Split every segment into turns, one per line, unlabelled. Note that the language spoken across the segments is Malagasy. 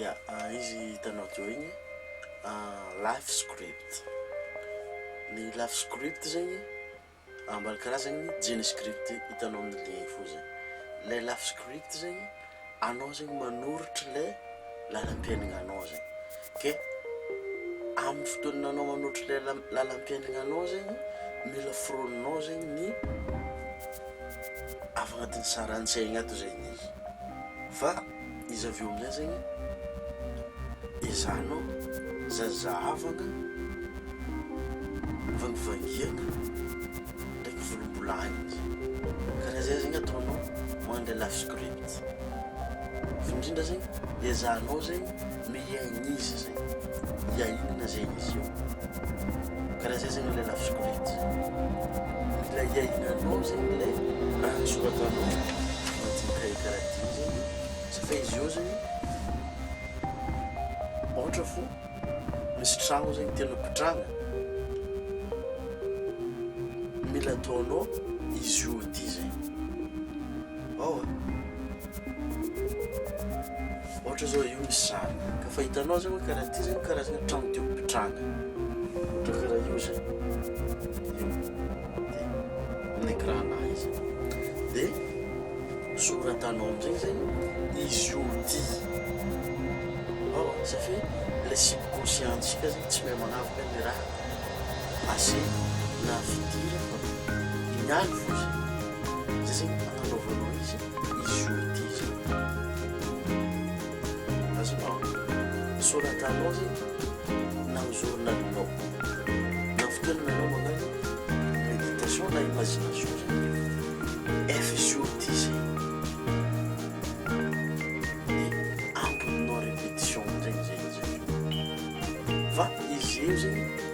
Ya, izy hitanao teo igny life script, ny life script zegny ambany karazagny jeans script hitanao amin'ny ligne fohy zay, le life script zegny anao zegny manoritra le lalam-piaignananao zegny, ke amin'ny fotoana anao manoritra le lalam-piaignananao zegny mila foroninao zegny ny. Afa agnatin'ny saran-tsaigny ato zay ny azy fa izy avy eo amizay zegny ezahanao zahazahavagna vangivangiagna ndraiky volombolahigny zay karaha zay zegny ataonao mandala script fa indrindra zegny ezahanao zegny Mihaino izy zay. Hiainona zay izy io. Karaha zay zany ilay lafoziko lety. Mila hiainanao zay ilay raha nosoratanao anaty cahier karaha ty zay. Satria izy io zany ohatra fo misy tragno zay tianao pitrahana, mila ataonao izy io ty zay. ao a. Ohatra zao io misy sary ka fa hitanao zany hoe karaha ty zany karazana trano teo ampitranga ohatra karaha io zany io de ny ecran nahy izy de soratanao amizay zany izy io ty ao a satria le subconscient tsika zany tsy mahay manavaka ny raha passé na futur fa ny aly fo zany. Zay zegny agnanaovanao izy izy jour ty zay. Azonao? Soratanao zegny na amin'ny journalinao na fotoanana anao magnano méditation na imagination zany hoe F jour ty zay. De amboninao répétition am'zay izy zay izy avy eo. Fa izy eo zegny.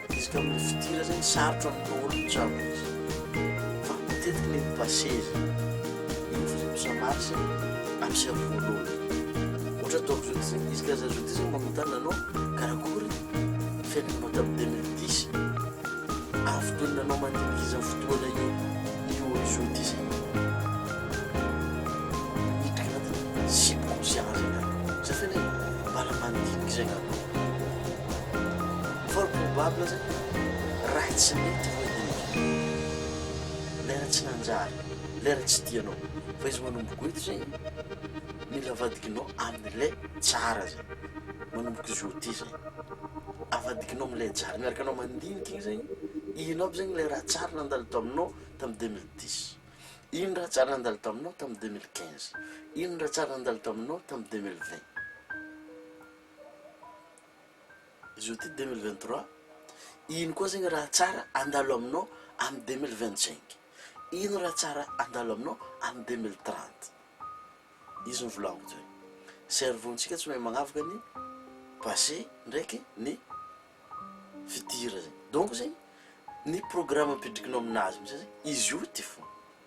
Betsaka amin'ny fidirana eny sarotra amin'ny daholo ny trano misy fa matetiky ny mi-passer zany iny fa zay mi-ça marche avy sy avy voalohany ohatra ataoko zao ty zay izy ka za zao ty zany manontany anao karakory ny fiainanao tamin'ny deux mille dix ary fotoana anao mandinika izao fotoana io io am'zao ty zay miditra agnatin'ny subconscient zay angamba zay feneh mbala mandinika zay angamba. Fort probable zany raha tsy mety moa iny e! lera tsy nanjary, lera tsy tianao, fa izy manomboka eto zay mila avadikinao amin'le tsara zay, manomboka izy ôty zay, avadikinao amle tsara, miaraka anao mandinika iny zay, ino aby zany le raha tsara nandalo tao aminao tamin'ny deux mille dix, ino raha tsara nandalo tao aminao tamin'ny deux mille quinze, ino raha tsara nandalo tao aminao tamin'ny deux mille vingt. Zao ity deux mille vingt trois, ino koa zegny raha tsara andalo aminao amin'ny deux mille vingt cinq? Ino raha tsara andalo aminao amin'ny deux mille trente? Izy novolaniko teo. Cerveau ntsika tsy mahay magnavaka ny passé ndraiky ny futur zegny. Donc zegny ny programme apidrikinao aminazy amizay zegny izy io ty fô.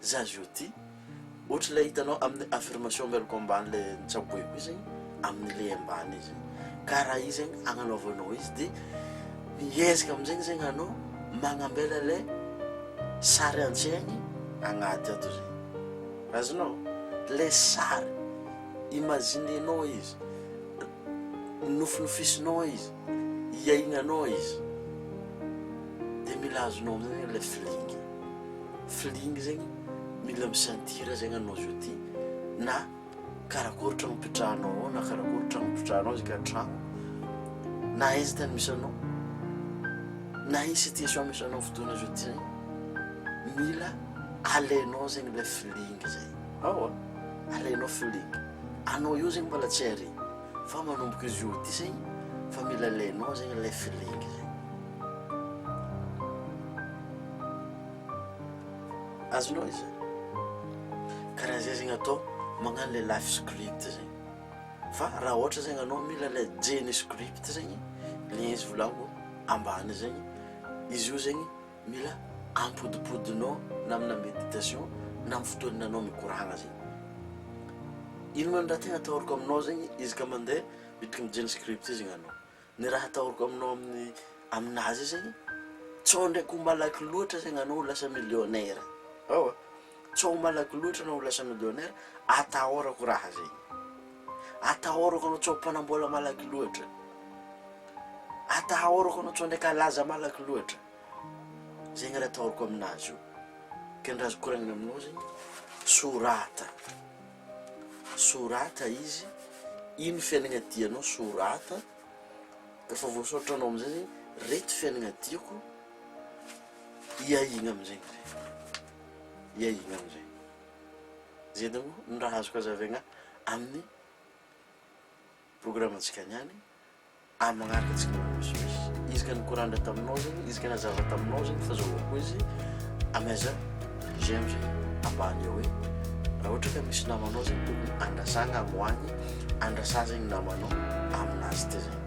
Za zao ty ohatry ilay hitanao amin'ny affirmation mialoka ambany le nitsaboeko izy amin'ny le ambany izy ka raha izy zegny agnanaovanao izy de miezaka amin'izegny zegny anao magnambela le sary an-tsaigny agnaty ato zay azonao le sary imaginenao izy Nonofinofisinao aho izy, hiainanao aho izy, dia mila azonao amin'izay zegny ilay feeling, feeling zegny mila mi-sentir zegny anao zao ty na karakory tragno ipetrahanao ao na karakory tragno ipetrahanao izy ka tragno na aiza tany misy anao na aiza situation misy anao fotoana zao ty zay mila alainao zegny ilay feeling zay, aowa alainao feeling. Anao io zegny mbola tsy ary fa manomboka izy io ty zegny fa mila alainao zegny ilay feeling zegny. Azonao izy zany. Karaha zay zegny atao magnano ilay life script zegny. Fa raha ohatra zegny anao mila ilay jenny script zegny, ilay izy volagniko ambany zegny, izy io zegny. Mila ampodipodinao na amina meditation na amin'ny fotoana anao mikoragna zegny. Inona ny raha tegna atahorako aminao zegny izy ka mandeha miditry ny jean script io zegny anao. Ny raha atahorako aminao amin'ny aminazy io zegny, tsao ndraiky ho malaky loatra zegny anao ho lasa millionnaire. Ewa. Tsy ao malaky loatra anao lasa millionnaire, atahorako raha zegny. Atahorako anao tsy ao mpanambola malaky loatra. Atahorako anao tsy ao ndraika laza malaky loatra. Zegny raha atahorako aminazy io. Ka ny raha azoko koragnina aminao zegny, sorata, sorata izy, ino fiaignana tianao, sorata, rehefa voasoratra anao amizay zegny, reto fiaignana tiako. Hiahiana amin'izegny re, hiahiana amin'izay. Zay daholo ny raha azoko hazavaigna amin'ny programantsika niany, amin'ny magnaraka antsika misimisy. Izy ka nikorandra taminao zegny, izy ka nazava taminao zegny fa zao koa izy, amaiza j'aime zay ambany eo hoe raha ohatra ka misy namanao zegny tokony andrasagna agny ho agny, andrasa zegny namanao aminazy ty zegny.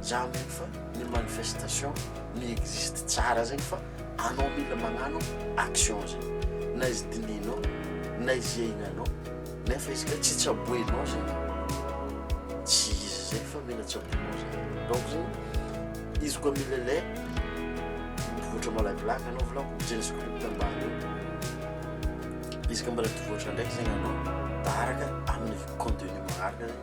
Zany zany fa ny manifestation mi existe tsara zegny fa anao mila magnano action zegny na izy dinihinao na izy iainanao nefa izy ka tsy tsaboinao zegny tsy izy zegny fa mila tsaboinao zegny donc zegny izy koa mila lay mivoatra malakilaky anao volako zay ny script ambany eo izy ka mbola mivoatra ndraiky zegny anao taharaka amin'ny contenu magnaraka zegny